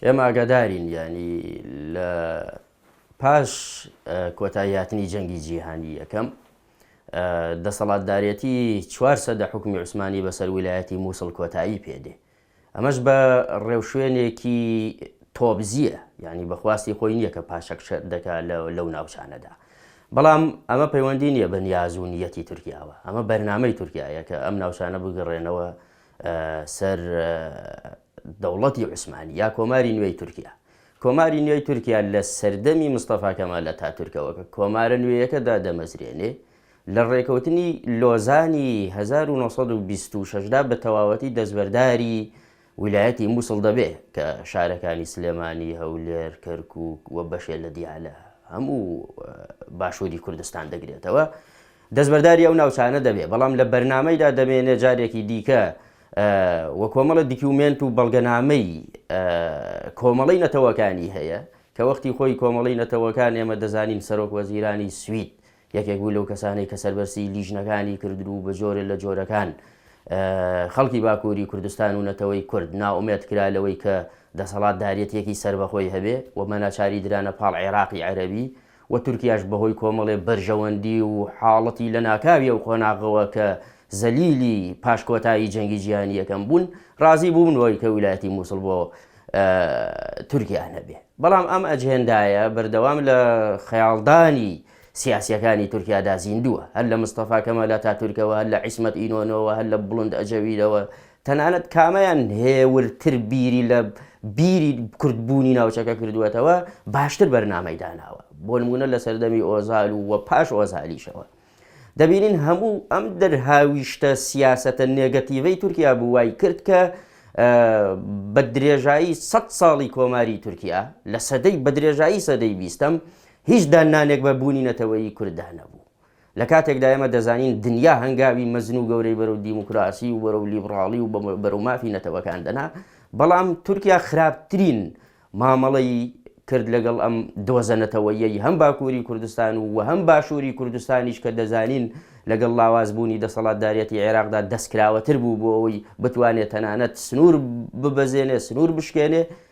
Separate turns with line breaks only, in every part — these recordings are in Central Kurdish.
ئێمە ئاگادارین یانی لە پاش کۆتایی هاتنی جەنگی جیهانی یەکەم دەسەڵاتدارەتی چوار سەدە حکومی عوسمانی بەسەر ویلایەتی مووسڵ کۆتایی پێدێ ئەمەش بە ڕێوشوێنێکی تۆبزیە ینی بەخواستی خۆی نییە کە پاشەک شەر دەکا لەو ناوچانەدا بەڵام ئەمە پەیوەندی نییە بە نیازونیەتی تورکیاوە ئەمە بەرنمەی تورکایە کە ئەم ناوچانە بگەڕێنەوە سەر دەوڵەتی عوسمانی یا کۆماری نوێی تورکیا کۆماری نوێی تورکیا لە سەردەمی مستەفا کەمال ئەتاتورکەوە کە کۆمارە نوێیەکە دادەمەزرێنێ لە ڕێکەوتنی لۆزانی هەزار و نۆ سەد و بیست و شەش دا بە تەواوەتی دەستبەرداری ویلایەتی مووسڵ دەبێ کە شارەکانی سلێمانی، هەولێر، کەرکووک و بەشێ لە دیالە هەموو باشووری کوردستان دەگرێتەوە. دەستبەرداری ئەو ناوچانە دەبێت، بەڵام لە بەرنامەیدا دەمێنێت جارێکی دیکە و کۆمەڵە دیکیومێنت و بەڵگەنامەی کۆمەڵەی نەتەوەکانی هەیە، کە وەختی خۆی کۆمەڵەی نەتەوەکان ئێمە دەزانین سەرۆک وەزیرانی سوید یەکێک بوو لەو کەسانەی کە سەربەرسیی لیژنەکانی کردن و بە جۆرێ لە جۆرەکان خەڵکی باکووری کوردستان و نەتەوەی کورد نائومێد کرا لەوەی کە دەسەڵاتداریەتیەکی سەربەخۆی هەبێ و بەناچاری درانە پاڵ عێراقی عەرەبی و تورکیاش بەهۆی کۆمەڵێ بەرژەوەندی و حاڵەتی لەناکاوی ئەو قۆناغەوە کە زەلیلی پاش کۆتایی جەنگی جیهانی یەکەم بوون ڕازی بوونەوەی کە ویلایەتی موسڵ بۆ تورکیا نەبێ بەڵام ئەم ئەجهێندایە بەردەوام لە خەیاڵدانی سیاسیەکانی تورکیادا زیندووە هەر لە مستەفا کەمال ئەتاتورکەوە هەر لە عیسمەت ئینۆنەوە هەر لە بڵند ئەجەویلەوە تەنانەت کامەیان هێورتر بیری لە بیری کوردبوونی ناوچەکە کردووەتەوە، باشتر بەرنامەی داناوە، بۆ نموونە لە سەردەمی ئۆزال و و پاش ئۆزالیشەوە. دەبینین هەموو ئەم دەرهاویشتە سیاسەتە نێگەتیڤەی تورکیا بوو وای کرد کە بە درێژایی سەد ساڵی کۆماری تورکیا، لە سەدەی بە درێژایی سەدەی بیستەم، هیچ داننانێک بە بوونی نەتەوەیی کورددا نەبوو. لە کاتێکدا ئێمە دەزانین دنیا هەنگاوی مەزن و گەورەی بەرەو دیموکراسی و بەرەو لیبڕاڵی و بەرەو مافی نەتەوەکان دەنا، بەڵام تورکیا خراپترین مامەڵەی کرد لەگەڵ ئەم دۆزە نەتەوەییەی هەم باکووری کوردستان و و هەم باشووری کوردستانیش کە دەزانین لەگەڵ لاوازبوونی دەسەڵاتدارێتی عێراقدا دەستکراوەتر بوو بۆ ئەوەی بتوانێت تەنانەت سنوور ببەزێنێ، سنوور بشکێنێ.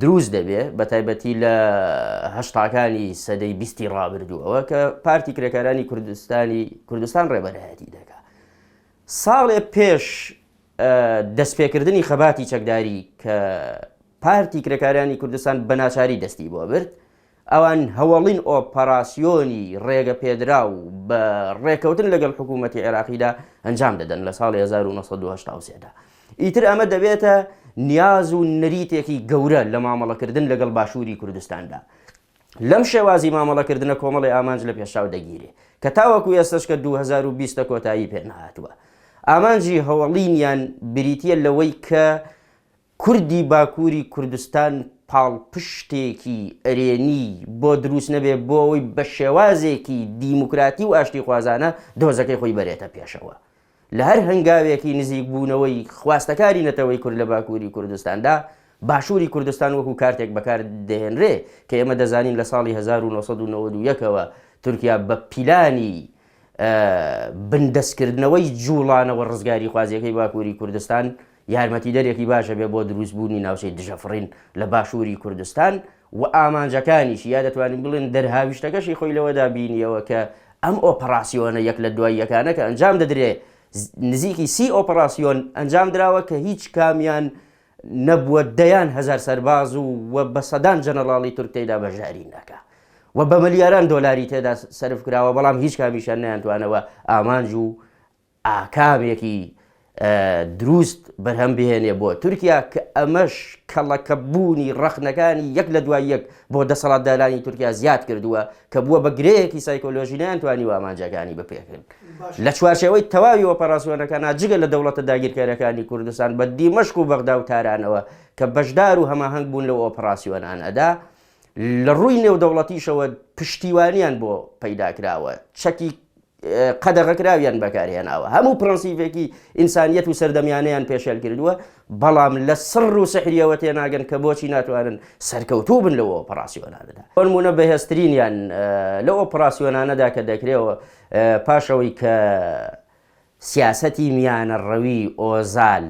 دروست دەبێ بەتایبەتی لە هەشتاکانی سەدەی بیستی ڕابردووەوە کە پارتی کرێکارانی کوردستانی کوردستان ڕێبەرایەتی دەکات ساڵێ پێش دەستپێکردنی خەباتی چەکداری کە پارتی کرێکارانی کوردستان بە ناچاری دەستی بۆ برد ئەوان هەوەڵین ئۆپەراسیۆنی ڕێگەپێدراو بە ڕێکەوتن لەگەڵ حکوومەتی عێراقیدا ئەنجام دەدەن لە ساڵی هەزار و نۆ سەد و هەشتا و سێ دا. ئیتر ئەمە دەبێتە نیاز و نەریتێکی گەورە لە مامەڵەکردن لەگەڵ باشووری کوردستاندا. لەم شێوازی مامەڵەکردنە کۆمەڵی ئامانج لەپێشچاو دەگیرێ کە تاوەکو ئێستەش کە دوو هەزار و بیست کۆتایی پێ نەهاتووە. ئامانجی هەوەڵینیان بریتییە لەوەی کە، کوردی باکوری کوردستان پاڵپشتێکی ئەرێنی بۆ دروست نەبێ بۆ ئەوەی بە شێوازێکی دیموکراتی و ئاشتیخوازانە دۆزەکەی خۆی بەرێتە پێشەوە لە هەر هەنگاوێکی نزیک بوونەوەی خواستەکاری نەتەوەی کورد لە باکوری کوردستاندا باشوری کوردستان وەکو کارتێک بەکار دەهێنرێ کە ئێمە دەزانین لە ساڵی 1991ەوە تورکیا بە پیلانی بندەستکردنەوەی جوڵانەوە ڕزگاری خوازیەکەی باکوری کوردستان یارمەتیدەرێکی باش ئەبێت بۆ دروستبوونی ناوچەی دژەفڕین لە باشووری کوردستان و ئامانجەکانیشی، یا دەتوانین بڵێین دەرهاویشتەکەشی خۆی لەوەدا بینییەوە کە ئەم ئۆپەڕاسیۆنە یەک لە دوای یەکانە کە ئەنجام دەدرێت، نزیکی سی ئۆپەڕاسیۆن ئەنجام دراوە کە هیچ کامیان نەبووە دەیان هەزار سەرباز و بە سەدان جەنەڕاڵی تورک تێیدا بەشداری ناکا و بە ملیاران دۆلاری تێدا سەرف کراوە، بەڵام هیچ کامیشیان نەیانتوانەوە ئامانج و ئاکامێکی دروست بەرهەم بهێنێ بۆ تورکیا کە ئەمەش کەڵەکەبوونی ڕەخنەکانی یەک لە دوای یەک بۆ دەسەڵاتدارانی تورکیا زیاد کردووە کە بووە بە گرەیەکی سایکۆلۆژی نەیانتوانی و ئامانجەکانی بپێکن لە چوارچەوەی تەواوی ئۆپەراسیۆنەکە ناجگە لە دەوڵەتە داگیرکەرەکانی کوردستان بە دیمەشق و بەغدا و تارانەوە کە بەشدار و هەماهەنگ بوون لەو ئۆپەراسیۆنانەدا لە ڕووی نێودەوڵەتیشەوە پشتیوانیان بۆ پەیدا کراوە چەکی قەدەغەکراویان بەکارهێناوە هەموو پرەنسیڤێکی ئینسانیەت و سەردەمیانیان پێشێل کردووە بەڵام لە سڕ و سەحریەوە تێناگەن کە بۆچی ناتوانن سەرکەوتوو بن لەوە ئۆپەراسیۆنانەدا فەرمونە بەهێزترینیان لە ئۆپەراسیۆنانەدا کە دەکرێەوە پاشەوەی کە سیاسەتی میانە ڕەوی ئۆزال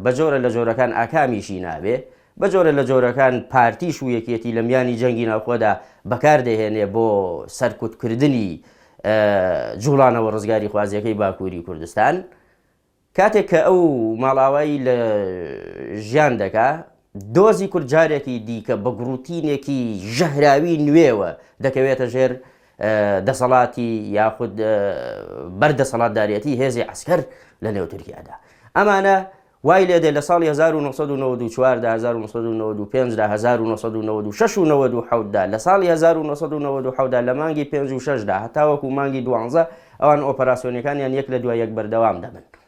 بە جۆرە لە جۆرەکان ئاکامیشی نابێ، بە جۆرە لە جۆرەکان پارتیش و یەکێتی لە میانی جەنگی ناوخۆدا بەکار دەهێنێ بۆ سەرکوت کردنی جوڵانەوە ڕزگاریخوازیەکەی باکووری کوردستان. کاتێک کە ئەو ماڵاوایی لە ژیان دەکا دۆزی کورد جارێکی دیکە بە گڕوتینێکی ژەهراوی نوێوە دەکەوێتە ژێر دەسەڵاتی یاخود بەر دەسەڵاتداریەتی هێزی عسکەر لە نێو تورکیادا ئەمانە وای لێ دێ لە ساڵی 1994 دا 1995 دا 1996 و 1970 دا لە ساڵی 1970 دا لە مانگی 56 دا هەتاوەکو مانگی دوانزە ئەوان ئۆپەراسیۆنەکانیان یەک لە دوای یەک بەردەوام دەبن.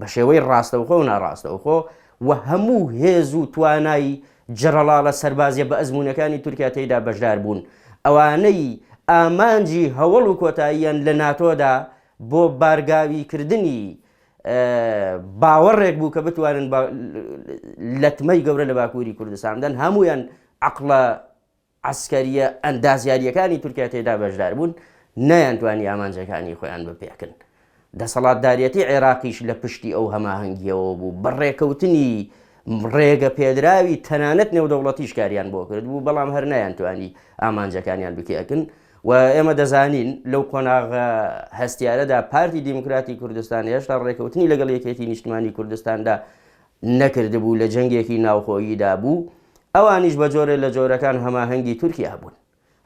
بە شێوەی ڕاستەوخۆ و ناڕاستەوخۆ و هەموو هێز و توانای جەرەڵاڵە سەربازیە بەئەزموونەکانی تورکیا تێیدا بەشدار بوون، ئەوانەی ئامانجی هەوەڵ و کۆتاییان لە ناتۆدا بۆ بارگاوی کردنی باوەڕێک بوو کە بتوانن لەتمەی گەورە لە باکووری کوردستان بدەن هەموویان عەقڵە عەسکەرییە ئەندازیارییەکانی تورکیا تێیدا بەشداربوون، نەیانتوانی ئامانجەکانی خۆیان بپێکن. دەسەڵاتداریەتی عێراقیش لە پشتی ئەو هەماهەنگییەوە بوو، بە ڕێکەوتنی ڕێگەپێدراوی تەنانەت نێودەوڵەتیش کاریان بۆ کردبوو، بەڵام هەر نەیانتوانی ئامانجەکانیان بپێکن و ئێمە دەزانین لەو قۆناغە هەستیارەدا پارتی دیموکراتی کوردستان هێشتا ڕێکەوتنی لەگەڵ یەکێتی نیشتمانی کوردستاندا نەکردبوو لە جەنگێکی ناوخۆییدا بوو، ئەوانیش بە جۆرێ لە جۆرەکان هەماهەنگی تورکیا بوون.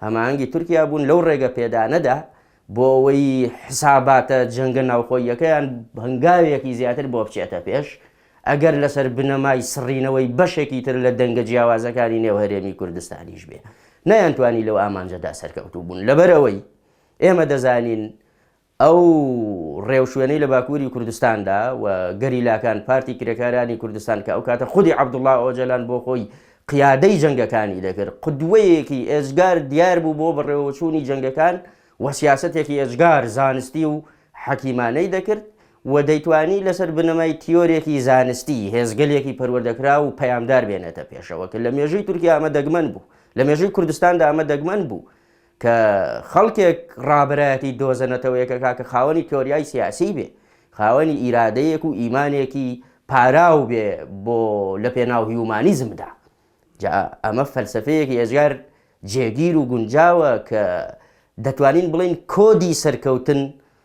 هەماهەنگی تورکیا بوون لەو ڕێگە پێدانەدا بۆ ئەوەی حساباتە جەنگە ناوخۆییەکەیان هەنگاوێکی زیاتر بۆ بچێتە پێش، ئەگەر لەسەر بنەمای سڕینەوەی بەشێکی تر لە دەنگە جیاوازەکانی نێو هەرێمی کوردستانیش بێ. نەیانتوانی لەو ئامانجەدا سەرکەوتوو بوون. لەبەر ئەوەی ئێمە دەزانین ئەو ڕێوشوێنەی لە باکووری کوردستاندا و گەریلاکان، پارتی کرێکارانی کوردستان کە ئەو کاتە خودی عەبدوڵا ئۆجەلان بۆ خۆی قیادەی جەنگەکانی دەکرد، قودوەیەکی ئێجگار دیار بوو بۆ بەڕێوەچوونی جەنگەکان و سیاسەتێکی ئێجگار زانستی و حەکیمانەی دەکرد و دەیتوانی لەسەر بنەمای تیۆرێکی زانستی هێزگەلێکی پەروەردەکراو و پەیامدار بێنێتە پێشەوە کە لە مێژووی تورکیا ئەمە دەگمەن بوو، لە مێژووی کوردستاندا ئەمە دەگمەن بوو کە خەڵکێک ڕابەرایەتی دۆزە نەتەوەیەکە کاکە خاوەنی تۆریای سیاسی بێ خاوەنی ئیرادەیەک و ئیمانێکی پاراو بێ بۆ لە پێناو هیومانیزمدا جا ئەمە فەلسفەیەکی ئێزگار جێگیر و گونجاوە کە دەتوانین بڵین کۆدی سەرکەوتن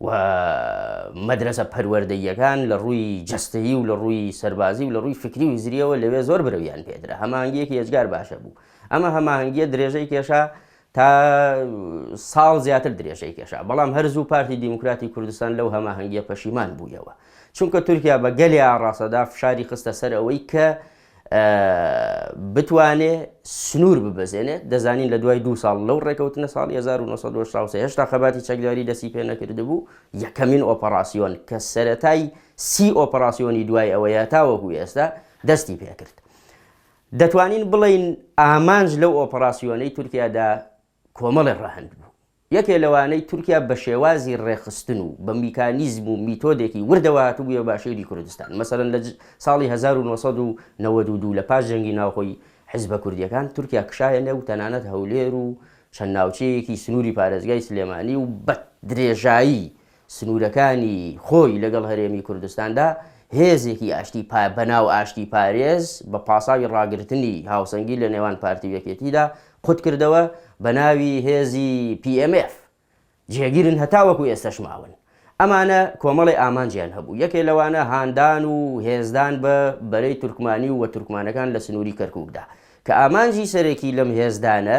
و مەدرەسە پەروەردەییەکان لە ڕووی جەستەیی و لە ڕووی سەربازی و لە ڕووی فکری و هزریەوە لەوێ زۆر برەویان پێدرا هەمانگیەکی ئێجگار باشە بوو ئەمە هەماهنگگیە درێژەی کێشا تا ساڵ زیاتر درێژەی کێشا بەڵام هەرزوو پارتی دیموکراتی کوردستان لەو هەماهنگگیە پەشیمان بوویەوە چونکە تورکیا بە گەلی ئاڕاستەدا فشاری خستە سەر ئەوەی کە بتوانێ سنوور ببەزێنێت دەزانین لە دوای دو ساڵ لەو ڕێکەوتنە ساڵی 1970 هێشتا خەباتی چەکداری دەسی پێ نەکردبوو یەکەمین ئۆپەراسیۆن کە سەتای سی ئۆپەراسیۆنی دوای ئەوەیە تاوەکو ئێستا دەستی پێکرد دەتوانین بڵین ئامانج لەو ئۆپەراسیۆنەی تورکیادا کۆمەڵێ ڕەهەند بوو، یەکێ لەوانەی تورکیا بە شێوازی ڕێکخستن و بە میکانیزم و میتۆدێکی وردەوە هاتبوویە باشووری کوردستان، مەسەلەن لە ساڵی هەزار و نۆ سەد و نەوەد و دوو لە پاش جەنگی ناوخۆی حیزبە کوردییەکان تورکیا کشایە نێو تەنانەت هەولێر و چەند ناوچەیەکی سنووری پارێزگای سلێمانی و بە درێژایی سنوورەکانی خۆی لەگەڵ هەرێمی کوردستاندا، هێزێکی ئاشتی پا بەناو ئاشتی پارێز بە پاساوی ڕاگرتنی هاوسەنگی لە نێوان پارتی و یەکێتیدا قوت کردەوە بە ناوی هێزی پی ئێم ئێف جێگیرن هەتاوەکو ئێستەش ماون ئەمانە کۆمەڵێ ئامانجیان هەبوو یەکێ لەوانە هاندان و هێزدان بە بەرەی تورکمانی و وە تورکمانەکان لە سنووری کەرکوکدا کە ئامانجی سەرەکی لەم هێزدانە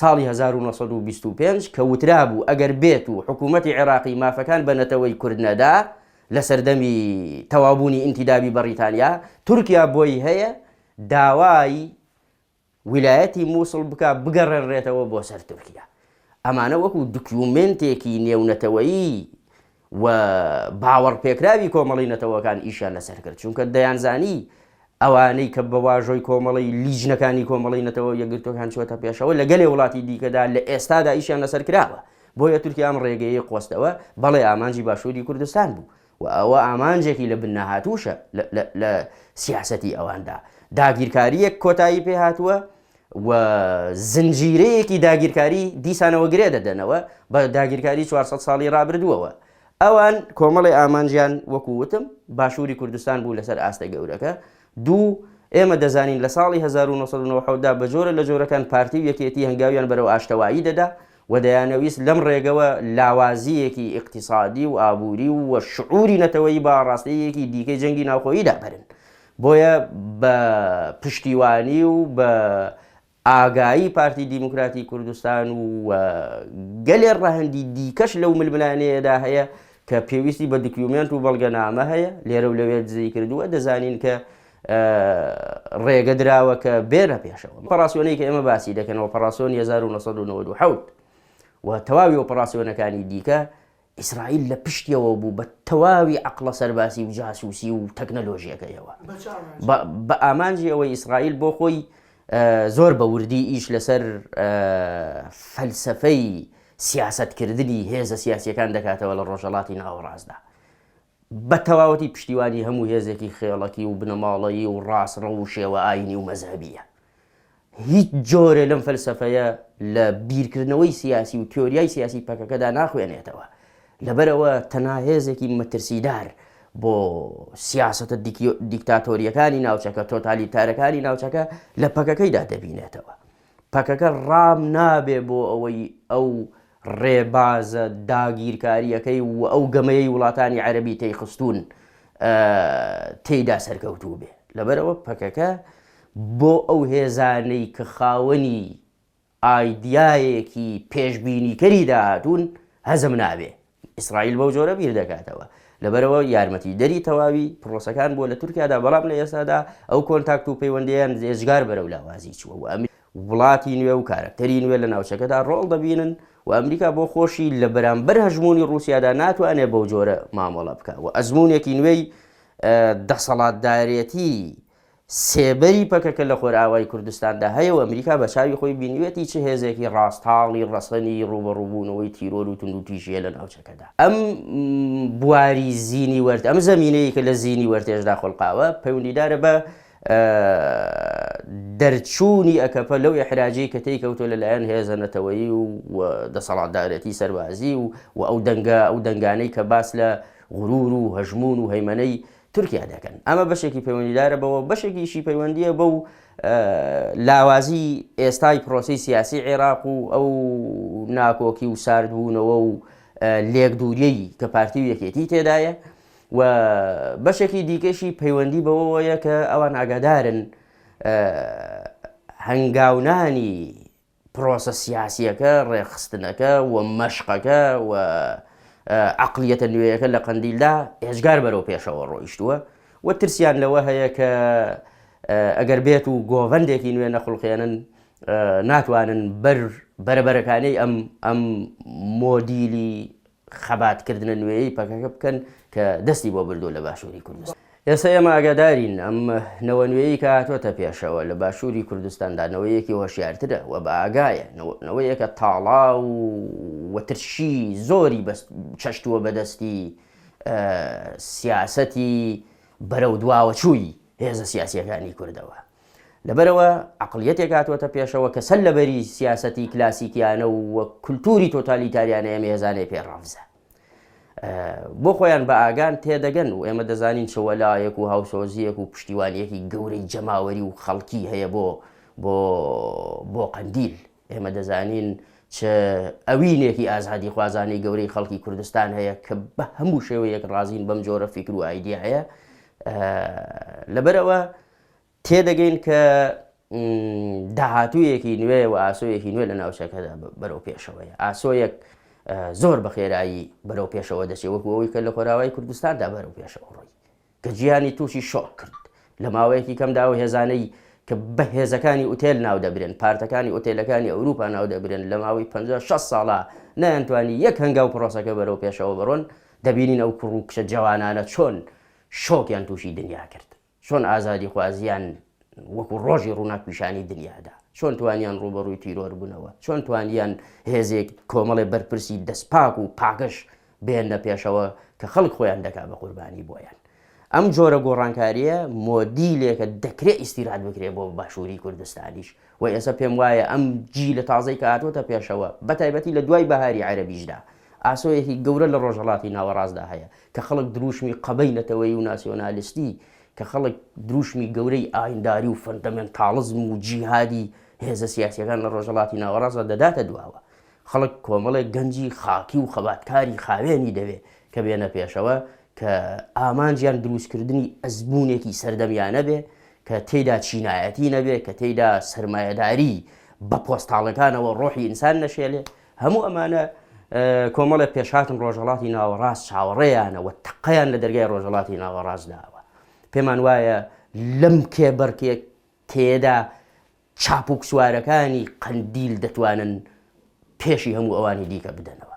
ساڵی هەزار و نۆ سەد و بیست و پێنج کە وترابوو ئەگەر بێت و حکوومەتی عێراقی مافەکان بە نەتەوەی کورد نەدا لە سەردەمی تەواوبوونی ئینتیدابی بەڕیتانیا، تورکیا بۆی هەیە داوای ویلایەتی مووسڵ بکا بگەڕێنرێتەوە بۆ سەر تورکیا. ئەمانە وەکوو دکیومێنتێکی نێونەتەوەیی و باوەڕپێکراوی کۆمەڵەی نەتەوەکان ئیشیان لەسەر کرد، چونکە دەیانزانی ئەوانەی کە بە واژۆی کۆمەڵەی لیژنەکانی کۆمەڵەی نەتەوە یەکگرتووەکان چووەتە پێشەوە لە گەلێ وڵاتی دیکەدا لە ئێستادا ئیشیان لەسەر کراوە، بۆیە تورکیا ئەم ڕێگەیەی قۆستەوە، بەڵێ ئامانجی باشووری کوردستان بوو و ئەوە ئامانجێکی لە بن نەهاتووشە لە سیاسەتی ئەواندا، داگیرکارییەک کۆتایی پێهاتووە، و زنجیرەیەکی داگیرکاری دیسانەوە گرێ دەدەنەوە بە داگیرکاری 400 ساڵی ڕابردووەوە ئەوان کۆمەڵی ئامانجیان وەکو وتم باشووری کوردستان بوو لەسەر ئاستە گەورەکە دوو ئێمە دەزانین لە ساڵی 1990 دا بە جۆرە لە جۆرەکان پارتی و یەکێتی هەنگاویان بەرەو ئاشتەوایی دەدا و دەیانەویست لەم ڕێگەوە لاوازییەکی ئیقتیسادی و ئابووری و شعوری نەتەوەیی بە ئاڕاستەیەکی دیکەی جەنگی ناوخۆییدا بەرن بۆیە بە پشتیوانی و بە ئاگایی پارتی دیموکراتی کوردستان و گەلێ ڕەهەندی دیکەش لەو ململانێیەدا هەیە کە پێویستی بە دکیومێنت و بەڵگەنامە هەیە لێرە و لەوێ دزەی کردووە دەزانین کە ڕێگە دراوە کە بێرە پێشەوە پەڕاسیۆنەی کە ئێمە باسی دەکەنەوە پەڕاسۆن 1970 و تەواوی ئۆپەڕاسیۆنەکانی دیکە ئیسرائیل لە پشتیەوە بوو بە تەواوی عەقڵە سەرباسی و جاسوسی و تەکنەلۆژیەکەیەوە بە ئامانجی ئەوەی ئیسرائیل بۆ خۆی زۆر بە وردی ئیش لەسەر فەلسەفەی سیاسەتکردنی هێزە سیاسیەکان دەکاتەوە لە ڕۆژەڵاتی ناوەڕاستدا. بە تەواوەتی پشتیوانی هەموو هێزێکی خێڵەکی و بنەماڵەیی و ڕاستڕەو و شێوە ئایینی و مەزهەبییە. هیچ جۆرێ لەم فەلسەفەیە لە بیرکردنەوەی سیاسی و تیۆریای سیاسی پەکەکەدا ناخوێنێتەوە. لەبەرئەوە تەنها هێزێکی مەترسیدار بۆ سیاسەتە دیکتاتۆرییەکانی ناوچەکە، تۆتالیتارەکانی ناوچەکە لە پەکەکەیدا دەبینێتەوە. پەکەکە ڕام نابێ بۆ ئەوەی ئەو ڕێبازە داگیرکارییەکەی و ئەو گەمەیەی وڵاتانی عەرەبی تێیخستوون تێیدا سەرکەوتوو بێ لەبەرەوە پەکەکە بۆ ئەو هێزانەی کە خاوەنی ئایدیایەکی پێشبینیکەری داهاتوون هەزم نابێ ئیسرائیل بەو جۆرە بیر دەکاتەوە. لەبەرئەوە یارمەتیدەری تەواوی پرۆسەکان بووە لە تورکیادا، بەڵام لە ئێستادا ئەو کۆنتاکت و پەیوەندییەیان ئێجگار بەرەو لاوازی چووە و ئەمریکا، وڵاتی نوێ و کارەکتەری نوێ لە ناوچەکەدا ڕۆڵ دەبینن و ئەمریکا بۆ خۆشی لە بەرامبەر هەژموونی ڕووسیادا ناتوانێت بەو جۆرە مامەڵە بکات و ئەزموونێکی نوێی دەسەڵاتدارێتی سێبەری پەکەکە لە خۆرئاوای کوردستاندا هەیە و ئەمریکا بە چاوی خۆی بینیویەتی چ هێزێکی ڕاست هاڵی ڕەسەنی ڕووبەڕووبوونەوەی تیرۆر و توندوتیژییە لە ناوچەکەدا. ئەم بواری زینی وەرت، ئەم زەمینەی کە لە زینی وەرتێشدا خولقاوە، پەیوەندیدارە بە دەرچوونی ئەکەپە لەو ئیحراجەی کە تێی کەوتووە لە لایەن هێزە نەتەوەیی و دەسەڵاتدارێتی سەربازی و ئەو دەنگە، ئەو دەنگانەی کە باس لە غروور و هەژموون و هەیمەنەی تورکیا دەکەن، ئەمە بەشێکی پەیوەندیدارە بەوە، بەشێکیشی پەیوەندییە بەو لاوازیی ئێستای پرۆسەی سیاسیی عێراق و ئەو ناکۆکی و ساردبوونەوە و لێکدووریی کە پارتی و یەکێتی تێدایە و بەشێکی دیکەشی پەیوەندی بەوەوەیە کە ئەوان ئاگادارن هەنگاونانی پرۆسە سیاسییەکە، ڕێکخستنەکە و مەشقەکە و عەقڵیەتە نوێیەکە لە قەندیلدا ئێجگار بەرەو پێشەوە ڕۆیشتووە و ترسیان لەوە هەیە کە ئەگەر بێت و گۆڤەندێکی نوێ نەخوڵقێنن ناتوانن بەر بەرەبەرەکانێی ئەم ئەم مۆدیلی خەباتکردنە نوێیەی پەکەکە بکەن کە دەستی بۆ بردووە لە باشووری کوردستان. ئێستا ئێمە ئاگادارین ئەم نەوە نوێیەی کە هاتووەتە پێشەوە لە باشووری کوردستاندا نەوەیەکی هۆشیارترە و بەئاگایە، نەوەیەکە تاڵاو و ترشی زۆری چەشتووە بەدەستی سیاسەتی بەرەو دواوەچووی هێزە سیاسییەکانی کوردەوە. لەبەرئەوە عەقڵیەتێک هاتووەتە پێشەوە کە سەر لەبەری سیاسەتی کلاسیکیانە و و کولتووری تۆتالیتاریانە ئێمە هێزانەی پێ ڕەفزە بۆ خۆیان بە ئاگان تێدەگەن و ئێمە دەزانین چ وەلایەک و هاوسۆزیەک و پشتیوانیەکی گەورەی جەماوەری و خەڵکی هەیە بۆ بۆ بۆ قەندیل ئێمە دەزانین چ ئەوینێکی ئازادی خوازانەی گەورەی خەڵکی کوردستان هەیە کە بە هەموو شێوەیەک ڕازین بەم جۆرە فیکر و ئایدیا هەیە لەبەرەوە تێدەگەین کە داهاتوویەکی نوێ و ئاسۆیەکی نوێ لە ناوچەکەدا بەرەو پێشەوەی ئاسۆیەک زۆر بە خێرایی بەرەو پێشەوە دەچێت وەکو ئەوەی کە لە خۆراوای کوردستاندا بەرەو پێشەوە ڕۆی کە جیانی تووشی شۆک کرد لە ماوەیەکی کەمدا و هێزانەی کە بە هێزەکانی ئوتێل ناو دەبرێن پارتەکانی ئۆتێلەکانی ئەوروپا ناو دەبرێن لە ماوەی 56 ساڵە نەیانتوانی یەک هەنگا و پرۆسەکە بەرەو پێشەوە بڕۆن دەبینین ئەو کوڕ و کچە جوانانە چۆن شۆکیان تووشی دنیا کرد چۆن ئازادیخوازیان وەکو ڕۆژی ڕووناک پیشانی دنیادا؟ چۆن توانیان ڕووبەڕووی تیرۆر بنەوە؟ چۆن توانیان هێزێک کۆمەڵێ بەرپرسی دەستپاک و پاکژ بێننە پێشەوە کە خەڵک خۆیان دەکا بە قوربانی بۆیان؟ ئەم جۆرە گۆڕانکاریە مۆدیلێکە دەکرێ ئیستیراد بکرێ بۆ باشووری کوردستانیش. وە ئێسە پێم وایە ئەم جیلە تازەی کە هاتووەتە پێشەوە بە تایبەتی لە دوای بەهاری عەرەبیشدا ئاسۆیەکی گەورە لە ڕۆژهەڵاتی ناوەڕاستدا هەیە کە خەڵک درووشمی قەبەی نەتەوەیی و ناسیۆنالیستی کە خەڵک درووشمی گەورەی ئاینداری و فەندەمێنتاڵزم و جیهادی هێزە سیاسییەکان لە ڕۆژهەڵاتی ناوەڕاستدا دەداتە دواوە. خەڵک کۆمەڵێک گەنجی خاکی و خەباتکاری خاوێنی دەوێ کە بێنە پێشەوە کە ئامانجیان دروستکردنی ئەزموونێکی سەردەمیانە بێ کە تێیدا چینایەتی نەبێ، کە تێیدا سەرمایەداری بە پۆستاڵەکانەوە ڕۆحی ئینسان نەشێلێ، هەموو ئەمانە کۆمەڵێ پێشهاتن ڕۆژهەڵاتی ناوەڕاست چاوەڕێیانە و تەقەیان لە دەرگای ڕۆژهەڵاتی ناوەڕاست داوە. پێمان وایە لەم کێبەرکێکەیەدا چاپوکسوارەکانی قەندیل دەتوانن پێشی هەموو ئەوانی دیکە بدەنەوە.